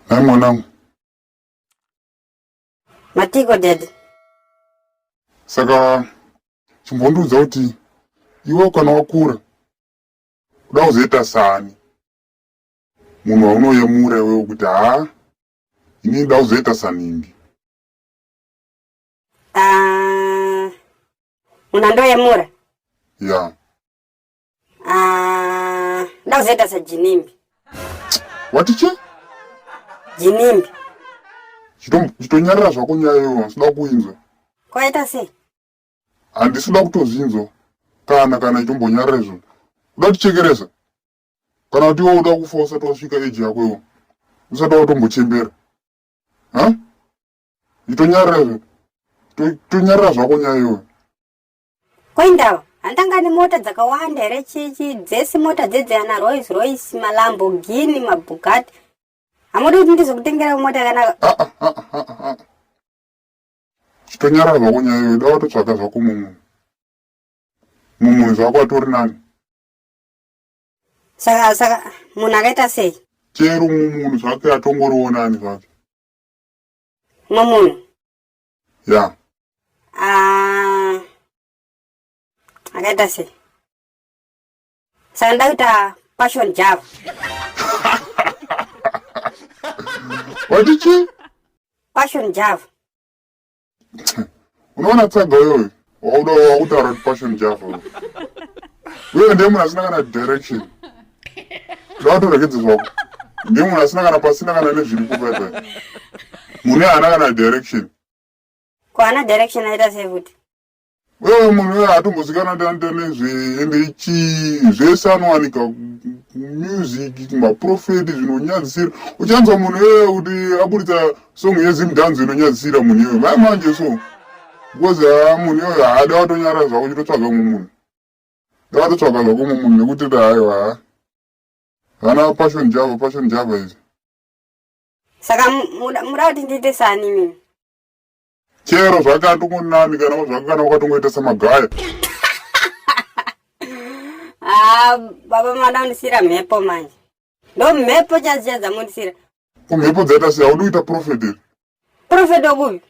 Hai mwanangu. Matiko daddy. Saka chimbondiudza kuti iwe kana wakura kuda kuzoita sani munhu waunoyemura iwewe kuti haa ini nda kuzoita saningi ah, munhu andoyemura ya yeah. Ah, ndakuzoita sajinimbi. Wati che? Jinimbi. Chitonyarira zvako nyaya iyoyo, sida kuinzwa. Kwaita sei? Handisi kuda kutozvinzwa kana kana itombonyarira izvo. Uda kutichekeresa? Kana kuti iwe uda kufa usati wasvika eji yako iwo. Usati watombochembera. Ha? Itonyarira izvo. Tonyarira zvako nyaya iyoyo. Koindava handanga nemota dzakawanda here chichi dzese mota dzedzeana Rolls Royce maLamborghini maBugatti hamudi kuti ndizokutengera mota yakanaka ah, ah, ah, chitonyarara zvako nyaya iyoyo da watotsvaga zvako mumunhu mumunhu zvako atori nani saka saka munhu akaita sei chero mumunhu zvake atongoriwo nani zvake mumunhu ya ah, akaita sei saka ndakuita passion java wati chii passion java unoona tsaga uyoyo wauda wakutaura kuti passion java wewe ndiye munhu asina kana direction ndawatoregedze zvako ndiye munhu asina kana pasina kana nezviri kupepe mune haana kana direction ko ana direction aita sei futi wewe munhu wee atombozikana tanta nezveende chii zvese anowanika music maprofeti zvinonyadzisira uchanzwa munhu wee kuti aburitsa Song yeZim Dance inonyadzisira munhu iyoyo. Mai manje so. Because ah, munhu iyoyo haada watonyara zvako chitotsvaga mumwe munhu. Ndawatotsvaga zvako mumwe munhu nekuti ndaayo haa. Ah. Vana passion java, passion java izi. Saka muda kuti ndiite sani mimi. Chero zvakatongonami kana zvakana wakatongoita samagaya. Ah, baba mwana unisira mhepo manje. Ndo mhepo chaziya dzamundisira. kumhepo dzaita sei haudi kuita profeti here profeti okupi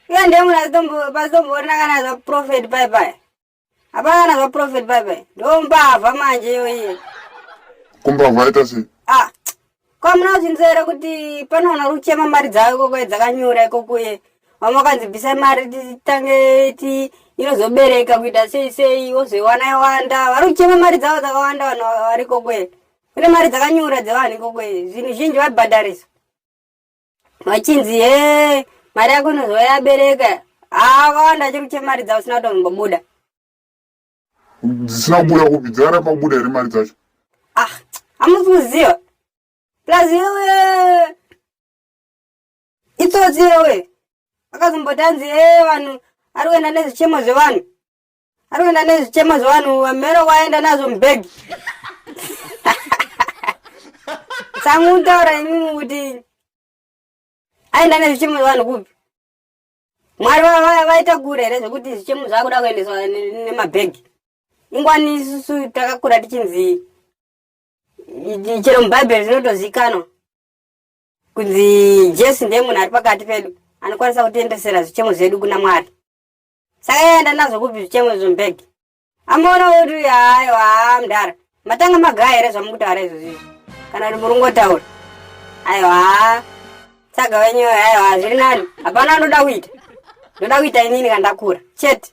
iye ndiye munhu pasitomboona kana zvaprofeti pai pai hapana kana zvaprofeti pai pai ndo mbavha manje iyoiye kumbavha aita sei ah kwamuna kuzvinzwa here kuti pane vanhu vari kuchema mari dzavo ikokoye dzakanyura ikokuye vamwe vakanzi bvisai mari titange ti inozobereka kuita sei sei wozoiwana yawanda vari kuchema mari dzavo dzakawanda vanhu vari ikokuye kune mari dzakanyura dzevanhu ikoko zvinhu zhinji vabhadharisa vachinzi he mari yako inozoa yabereka akawanda chiri kuche mari dzavo sina kutombobuda dzisina kubuda kupi dzara pakubuda here mari dzacho ah hamusi kuziva plus yewe itsotsi yewe akazombotanzi e vanhu ari kuenda nezvichemo zvevanhu Anoenda nezvichemo zvevanhu vamero waenda nazvo mubhegi. Tsangu mutaura imimi kuti aenda nezvichemo zvevanhu kupi? Mwari vaita kure here zvekuti zvichemo zvakuda kuendeswa nemabhegi? Ingwani isusu takakura tichinzi chero mubhaibheri zvinotozikanwa kunzi Jesu ndiye munhu ari pakati pedu anokwanisa kutiendesera zvichemo zvedu kuna Mwari. saka yaenda nazvo kupi zvichemo izvo mbeg amaona woti uyu hayo haa mdara matanga magaya here zvamukutaura izvozvizvo kana kuti muringotaura aiwa haa tsaga wenyu aiwa zviri nani hapana anoda kuita ndoda kuita inini kandakura chete